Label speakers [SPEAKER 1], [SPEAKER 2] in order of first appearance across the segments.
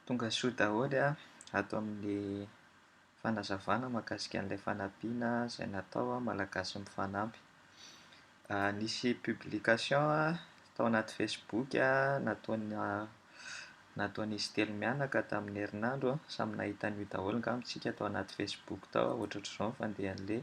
[SPEAKER 1] Tonga soa daholo ato amin'ny fanazavana mahakasika an'ilay fanampiana izay natao Malagasy mifanampy. Nisy publication tao anaty Facebook nataonà nataon'izy telo mianaka tamin'ny herinandro, samy nahita an'io daholo angamba isika tao anaty Facebook tao, ohatrohatr'izao ny fandehan'ilay.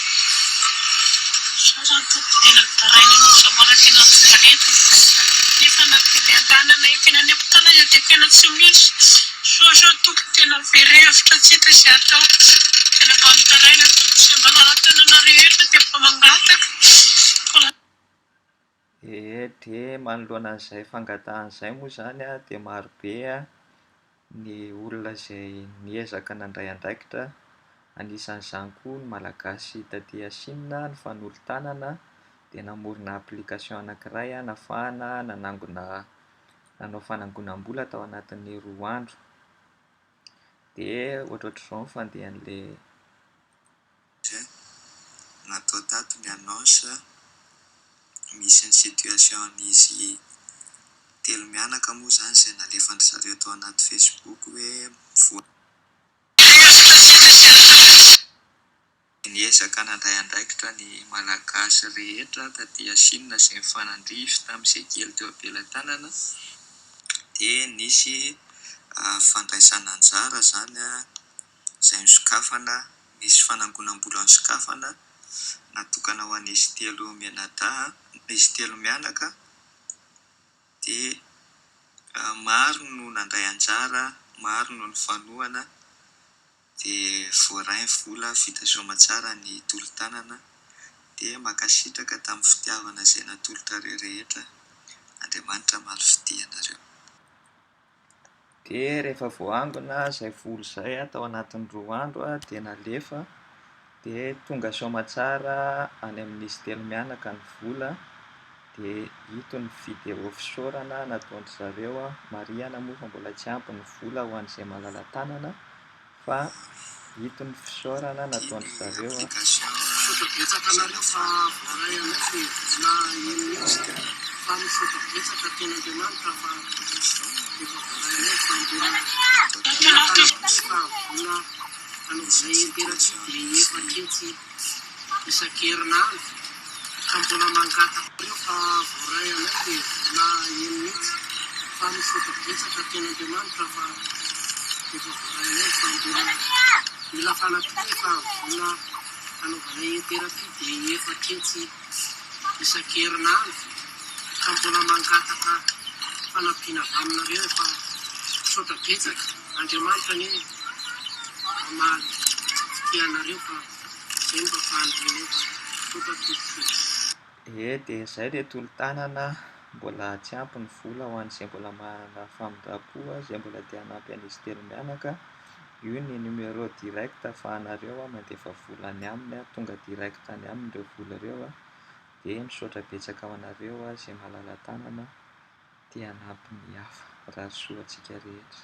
[SPEAKER 2] Izaho izany tompoko dia nitaraina anao izaho mbola tsy nanjomba ny entana nefa na dia ny andanana ekena any am-pitanana dia tena tsy misy, sao sao tompoko tena very hevitra tsy hita izay atao, tena mba mitaraina tompoko izay manara-tanana rehetra dia mba mangataka.
[SPEAKER 1] Ee, dia manoloana an'izay fangatahana izay moa izany dia marobe ny olona izay niezaka nandray andraikitra, anisan'izany koa ny Malagasy taty Chine nifanolo-tanana dia namorona application anankiray nafahana nanangona nanao fanangonam-bola tao anatin'ny roa andro, dia ohatrohatr'izao ny fandehan'ilay. Dia
[SPEAKER 3] natao tato ny annonce, misy ny situation n'izy telo mianaka moa izany izay nalefan-dry zareo tao anaty Facebook hoe mivoaka Dia niezaka nandray andraikitra ny Malagasy rehetra taty Chine izay nifanandrify tamin'izay kely teo am-pelatanana dia nisy fandraisana anjara izany. izay nosokafana, nisy fanangonam-bola nosokafana natokana ho an'izy telo mianadahy, izy telo mianaka, dia maro no nandray anjara, maro no nifanohana, dia voaray ny vola vita soa aman-tsara ny tolo-tanana, dia mankasitraka tamin'ny fitiavana izay natolotrareo rehetra, Andriamanitra hamaly fitia anareo. Dia
[SPEAKER 1] rehefa voaangona izay voly izay tao anatin'ny roa andro dia nalefa, dia tonga soamatsara any amin'ny izy telo mianaka ny vola, dia ito ny video fisaorana nataon-dry zareo, marihina moa fa mbola tsy ampy ny vola ho an'izay malala-tanana. Fa ito ny fisaorana nataon-dry zareo an.
[SPEAKER 2] isan-kerinandro ka mbola mangataka anareo fa voaray anay le vola eny mintsy fa misaotra betsaka teny Andriamanitra fa efa voaray anay fa mbola mila fanampiana fa vola hanaovanay interapy de efa ketsy isan-kerinandro ka mbola mangataka fanampiana avy aminareo efa misaotra betsaka Andriamanitra anie mamaly ity anareo fa zay no fahafahany renay fa misaotra tompoko. Ee dia
[SPEAKER 1] izay dia tolo-tanana mbola tsy ampy ny vola ho an'izay mbola manana famindram-po izay mbola te hanampy an'izy telo mianaka. Io ny numéro direct afahanareo mandefa vola any aminy tonga direct any aminy ireo vola ireo a, dia misaotra betsaka ho anareo izay mahalala tanana te hanampy ny hafa mirary soa antsika rehetra.